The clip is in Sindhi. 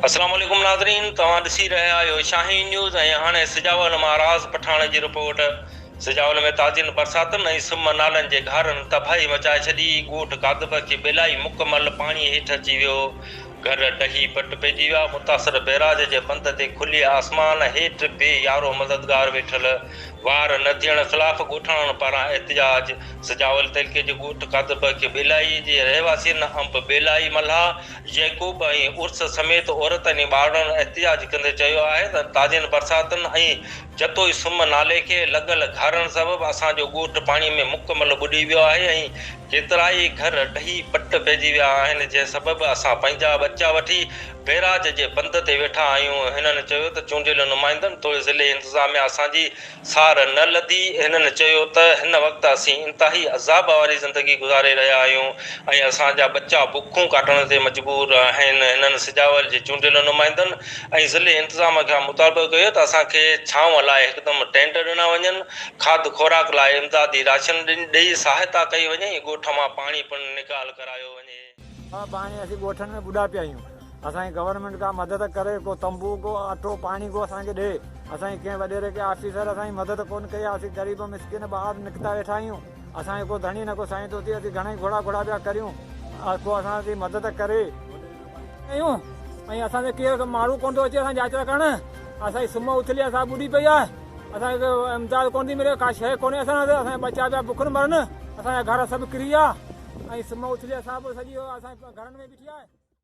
السلام عليڪم ناظرين توهان ڏسي رهيا آهيو شاهين نيوز ۽ هاڻي سجاول مان راز پٺاڻ جي رپورٽ سجاول ۾ تازين برساتن ۽ سم نالن جي گهارن تباهي مچائي ڇڏي ڳوٺ ڪاڌبه کي بيلائي مڪمل پاڻي هيٺ اچي ويو گهر ڊهي پٽ پئجي ويا. متاثر بئراج جي بند تي کلي آسمان هيٺ بي يارو مددگار ويٺل وار نه ٿيڻ خلاف ڳوٺاڻن پاران احتجاج، سجاول تعلقي جي ڳوٺ قادربه کي ٻيلائي جي رهواسين انب ٻيلائي ملاح يعقوب ۽ عرس سميت عورتن ۽ ٻارڙن احتجاج ڪندي چيو آهي ته تازين برساتن ۽ جتوئي سم نالي کي لڳل گهارن سبب اسان جو ڳوٺ پاڻي ۾ مڪمل ٻڏي ويو آهي ۽ ڪيترائي گهر ڊهي پٽ پئجي ويا آهن جنهن سبب اسان پنهنجا ٻچا وٺي بئراج جي بند تي ويٺا آهيون هنن چيو ته چونڊيل نمائندن توڙي ضلعي انتظاميا اسان جي سار نه لڌي هنن چيو ته هن وقت اسين انتهائي عذاب واري زندگي گذاري رهيا آهيون ۽ اسان جا ٻچا بکون ڪاٽڻ تي مجبور آهن هنن سجاول جي چونڊيل نمائندن ۽ ضلعي انتظامه کان مطالبو ڪيو ته اسان کي ڇانو لاء هڪدم ٽينٽ ڏنا وڃن، کاڌ خوراڪ لاء امدادي راشن ڏئي سهائتا ڪئي وڃي ۽ ڳوٺ مان پاڻي پڻ نيڪال ڪرايو وڃي. اها پاڻي اسين ڳوٺن ۾ ٻڏا پيا آهيون، اسان کي گورنمينٽ ڪا مدد ڪري، ڪو تنبو، ڪو اٽو، پاڻي ڪو اسان کي ڏئي، اسان جي ڪنهن وڏيري ڪنهن آفيسر اسان جي مدد ڪونه ڪئي آهي، اسين غريب مسڪين ٻار نڪتا ويٺا آهيون، اسان جو ڪو ڌڻي نه ڪو سائين ٿو ٿئي، اسين گهڻا ئي گهوڙا گهوڙا پيا ڪريون ڪو اسان جي مدد ڪري. ڪيون ۽ اسان تي ڪير ماڻهو ڪونه ٿو اچي اسان جاچ ڪرڻ اسان جي سم اٿلي اسان ٻڏي پئي آهي اسان کي امداد ڪونه ٿي ملي ڪا شيء ڪونهي اسان وٽ اسان جا ٻچا پيا بک نه مرن اسان جا گهر سڀ ڪري ويا ۽ سم اٿلي اسان به سڄي اسان گهرن ۾ بيٺي آهي.